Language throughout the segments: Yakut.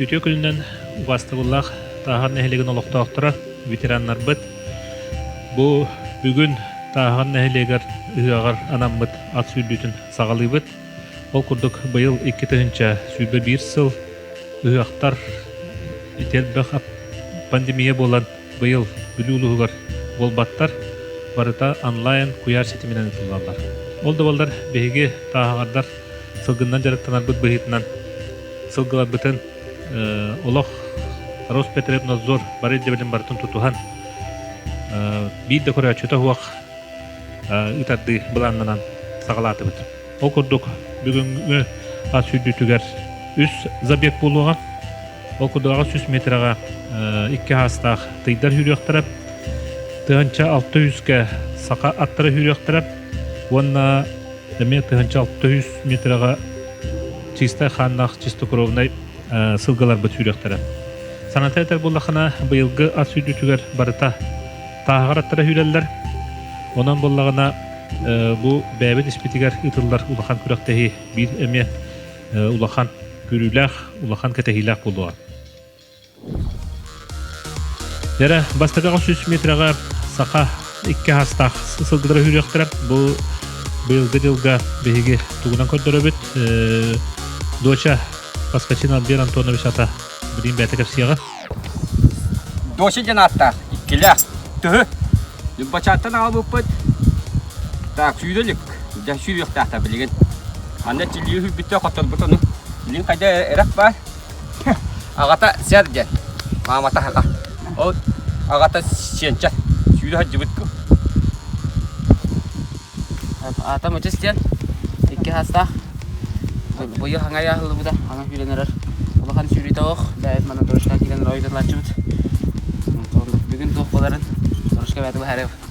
Үтүө күнүнэн убаастабыллаах Тааһар нэһилиэгин олохтоохторо, ветераннарбыт! Бу бүгүн Тааһар нэһилиэгэр ыһыаҕар анаммыт ат сүүрдүүтүн саҕалыыбыт. Ол курдук быйыл икки тыһыынча сүүрбэ биир сыл ыһыахтар ити элбэх ат пандемия буолан быйыл Бүлүү улууһугар буолбаттар. Барыта онлайн куйаар ситиминэн ыытыллаллар. Ол да буоллар биһиги тааһаҕардар сылгыннан дьарыктанарбыт быһыытынан сылгыларбытын олох Роспотребнадзор бары ирдэбилин барытын тутуһан биир да көрөөччүтэ суох ытардыы былааннанан саҕалаатыбыт. Ол курдук бүгүҥҥү ас сүүрдүүтүгэр үс забег буолуоҕа. Ол курдук аҕыс жүз метрega икки хаастаах тыйдар сүүрүөхтэрэ, тыһыынча алты сүүскэ саха аттара сүүрүөхтэрэ уонна эмиэ тыһыынча алта үс метрega чистай хааннаах чистокровнай сылгаларбыт сүүрүөхтэрэ. Саната этэр буллахына, быйылгы ат сүүрдүтүгэр барыта тааһаҕар аттара сүүрэллэр. Онон буллаҕына бу бэйэбит испитигэр ытыллар улахан күрэхтэһии биир эмиэ улахан күрүүлээх, улахан кэтэһиилээх буолуоҕа. Дэрэ бастакы сүүс метрega саха икки хастаах сылгыдара үүрүөхтэрэ бу быйылгы дьылга биһиги тугунан көрдөрөбүт доча Паскачин Албер Антонович ата билин бэйте кепсиеҕа доча диэн ааттаах иккилээх төһө люббачааттан аалбыппыт так сүйдөлүк да сүйүөхтаахта билигин анда тиллии хүрбүттэ хотторбут ону билин қайда эрэх бар Аҕата Сэр диэн, маамата аҕа. Ол аҕата Сиэнчэ. Сүүрэ сылдьыбыт Аата Мычыс диэн икки саастаах быйыл хаҥайа аһыллыбыта аны сүүрэн эрэр улахан сүүрүүтэ оох бэйэт мана дорожка киирэн ройдалааччыбыт бүгүн туохпаларын дорожка бэйэтэ быһаарыв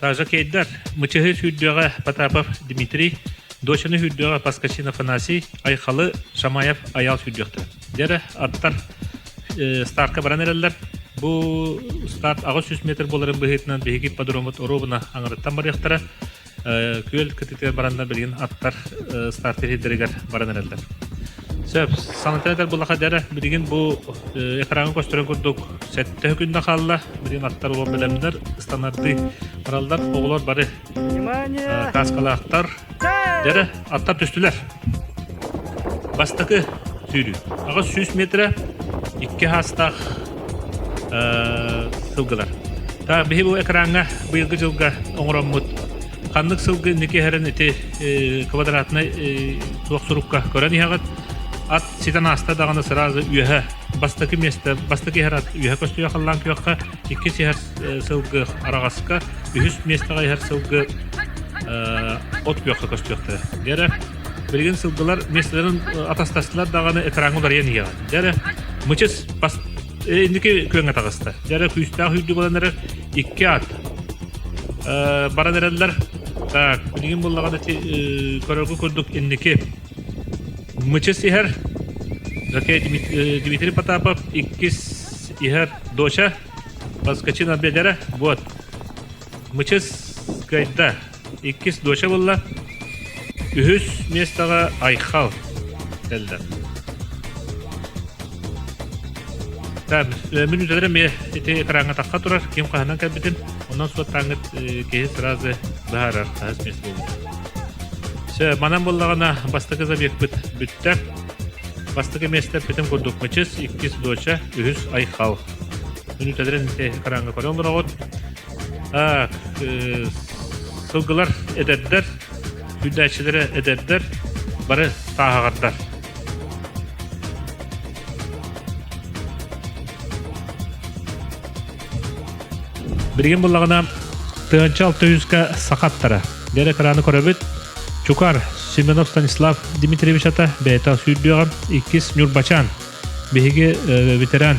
Таажакейдар мычыһы сүүрдүөҕэ Потапов Дмитрий, дочаны сүүрдүөҕэ Паскачин Афанасий, Айхалы Шамаев Аял сүүрдүөхтэрэ. Дэрэ аттар старка баран эрэллэр. Бу старт аҕыс жүз метр буоларын быһыытынан биһиги подроммут оруобуна аңырыттан барыахтара. Күөл кытытыгар бараннар билигин аттар старт ирдэригэр баран эрэллэр. Сөп. Саҥата этэр былахадара билигин бу э, экраҥҥа көстөрүн курдук сэттэ күннэ хаалла. Билигин аттар улам бэлэмнэр, станардыы бараллар. Оҕолор бары э, кааскалаахтар. Дэрэ, аттар түстүлэр. Бастакы сүүрүү. Аҕыс сүүс метрэ икки хаастаах э, сылгылар. Так, биһи бу экраҥҥа быйылгы дьылга оҥороммут ханнык сылгы инники иһэрин ити квадратнай туох сурукка көрөн иһэҕит ат ситэн ааста даҕаны сразу үөһэ бастакы миэстэ бастакы иһэр ат үөһэ көстүйэ халлаан күөххэ иккис иһэр сылгы араҕаска үһүс миэстэҕэ иһэр сылгы от күөххэ көстүөхтэрэ дьэ эрэ билигин сылгылар миэстэлэрин атастастылар даҕаны экраҥҥа уларыйан иһиэҕэ дьэ эрэ мычыс бас Э, инники күөҥҥэ таҕыста. Дьэ, эрэ күүстээх үрдүк olan эрэр икки аат э, баран эрэллэр. Так, билигин буллаҕын эти көрөргө курдук инники мычыс иһэр Жаке Дмитрий Потапов иккис иһэр доча Баскачин Абедера вот мычыс гайда иккис доча буолла үһүс миэстэҕэ Айхал кэллэ так мин үтэлэрим ити экраҥҥатахха турар ким хаһынан кэлбитин онон суоттааҥҥыт киһи сразу быһаарар хаһыс миэстэ буолбут все манан буллаҕына бастакы забегпыт бүттэ бастакы миэстэ петин курдук мачыс иккис доча үһүс айхал мин үтэлэрин экраҥҥа көрө олороҕут сылгылар эдэрдэр сүүрдээччилэрэ эдэрдэр бары тааһаҕардар билигин буллаҕына тыһынча алтыйынска сахаттара дэр экраны көрөбүт чукар семенов станислав дмитриевич ата бэйэтэ сүүрдүөҕүн иккис ньурбачаан биһиги ветеран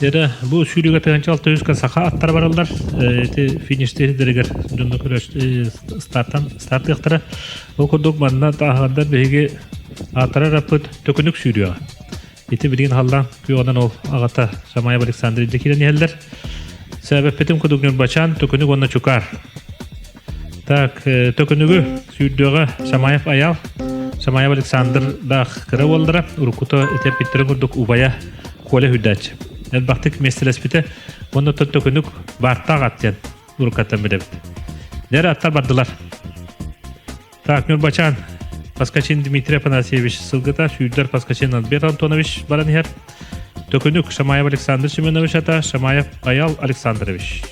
Дедэ бу сүүрүгэ тыһынча алта үскэ саха аттара бараллар ити фиништэригэр дьонно стартан стартыахтара ол курдук манна тааһандар биһиги ааттара раппыт төкүнүк сүүрүөҕэ ити билигин халлаан күөҕынан ол аҕата Шамаев Александр Ильдэ киирэн иһэллэр сээбэппитим кудугнюр бачаан төкүнүк уонна чукаар Так, төкүнүгү сүүрдүөҕэ Шамаев Аял, Шамаев Александр Дах кыра уоллара, уруккута этэр питтэрин курдук убайа Коля Хүрдээч. Элбахтык миэстэлэспитэ, онно төкүнүк баартаах аттыйан уруккаттан билэбит. Дэр аттар бардылар. Так, Нурбачан, Паскачин Дмитрий Афанасьевич сылгыта, сүүрдэр Паскачин Альберт Антонович баран иһэр. Төкүнүк Шамаев Александр Семенович ата, Шамаев Аял Александрович.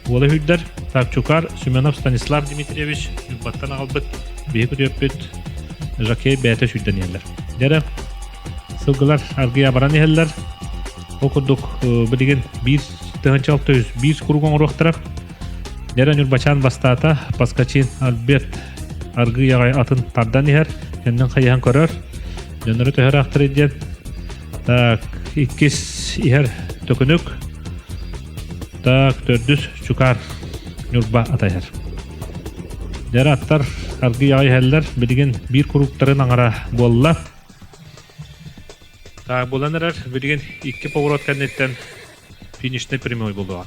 Уола үрдер, Тапчукар Семенов Станислав Дмитриевич, Нюрбаттан аҕалбыт, биһи күтүөппүт Жакей бэйэтэ сүүрдэниэллэр. Дэрэ, сылгылар аргыйа баран иһэллэр. Ол курдук, билигин 1 тыһынча 600 биир курук оҥоруохтара. Дэрэ Ньурбачаан бастаата Паскачин Альберт аргыы аҕай атын тардан иһэр, кэннин хайыһан көрөр. Дьоннору төһөраахтар диэн так иккис иһэр төкүнүк так төрдүс чукаар Ньурба атайар. Дэрэ аттар аргыы аҕай иһэллэр билигин биир курууктарын аҥара буолла. Так булан эрэр билигин икки поворот кэнниттэн финишный прямой булуоҕа.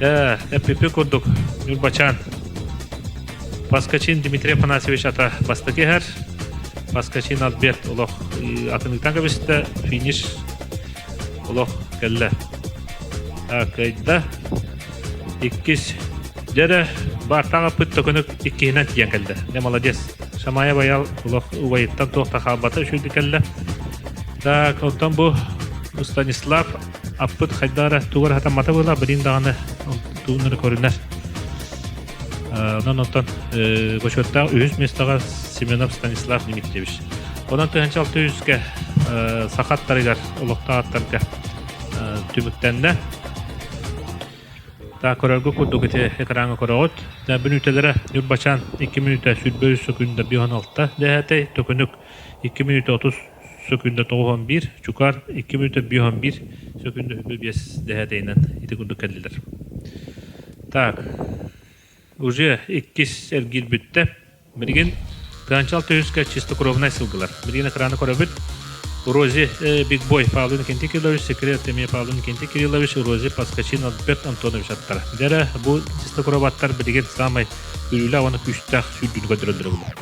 Ээ, эппиппит курдук, Ньурбачаан. Паскачин Дмитрий Афанасьевич ата бастакы иһэр. Паскачин Альберт олох атыныктан кэбистэ, финиш олох кэллэ. Кайда иккис дьэрэ баартан аппыт төкүнүк иккиһинэн тиийэн кэлдэ. Не молодец. Шамая баял олох убайыттан туох та хаалбата үшүйдү кэллэ. Так, оттон бу Станислав аппыт хайдах эрэ тугу эрэ хатаммата була билин даҕаны тугун эрэ көрүнэ онон оттон бочуоттаах үһүс миэстэҕэ Семенов Станислав Дмитриевич онон тыһынча алты үһүскэ сахаттарыгар олохтоохтарга түмүктэннэ та көрөргө курдук ити экраҥҥа көрөҕүт бүнүүтэлэрэ ньурбачаан икки мүнүүтэ сүүрбэ үс күн да бион алта дэһэтэй төкүнүк икки мүнүүтэ отус сөкүндэ тоҕус уон биир чукаар икки мүнөттө биир уон биир сөкүндэ үбү биэс дэһээтэйинэн ити курдук кэллилэр так уже иккис эргиир бүттэ билигин Ганчал төһүскэ чистокровнай сылгылар. Билигин экраны көрөбүт. Рози Биг Бой Павлин Кенти Кириллович, секрет Теми Павлин Кенти Кириллович, Рози Паскачин Альберт Антонович аттара. Дэрэ бу чистокроваттар билигин самай күлүүлэ уонна күстээх сүүрдүүнү көрдөрөллөр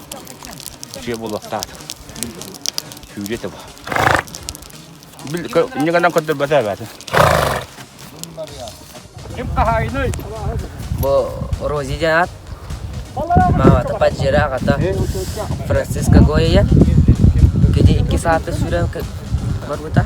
Дьиэ булаттаат. Сүүрэ таба. Бил ньыганан көтөрбөтө эбээтин. Ким хаһайный? Бу Рози диаат. Мамата паджира агата Франциско Гояян. Кини 2 сааты сүрэн барбыта.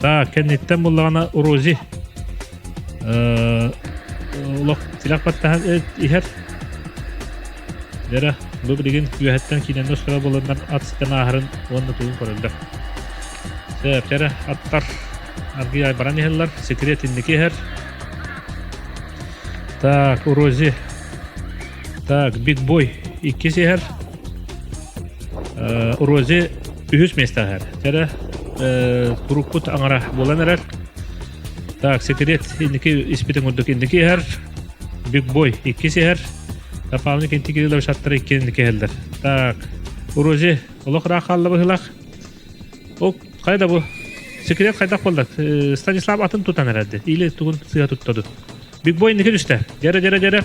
Так, кэнниттэн буллаҕына Рози олох тилэх баттаһан иһэр Вера бу билигин күөһэттэн киинэнэ оскоро болоннар ат ситэн ааһарын уонна тугун көрөллөр. Сэ, кэрэ аттар аргы ай баран иһэллэр, секрет инники иһэр. Так, Рози Так, Биг Бой иккис иһэр. Рози үһүс месте иһэр. Тэрэ турукпут аңара буолан эрэр. Так, секрет инники испитин курдук инники иһэр. Биг Бой иккис иһэр. Дополнительно интегрировать шаттары иккенники иһэллэр. Так, Рози олох ыраах хаалла быһылах. Ок, хайда бу? Секрет хайдах болды? Станислав атын тутан эреді. Или тугун сыға туттаdı. Big Boy inniki düştü. Gere gere gere.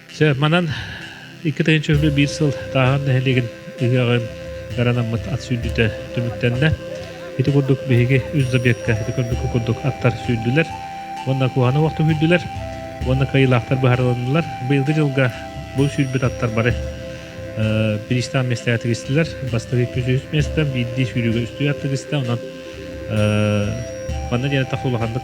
Чэ, манан иккитин чөһүлүү биир сыл тааһын нэһилиэгин ыһыаҕын гаранаммыт ат сүүрдүүтэ түмүктэннэ. Ити курдук биһиги үс забегка ити курдук курдук аттар сүүрдүлэр уонна куһаны уокту сүүрдүлэр уонна кыайыылаахтар быһарыланнылар. Быйылгы дьылга бу сүүрбүт аттар бары бириистээн местэҕэ тигистилэр. Бастакы икки үс миэстэ, биирдии сүүрүүгэ үстүү ат тигистэ. Онон манна диэн тахса улаханнык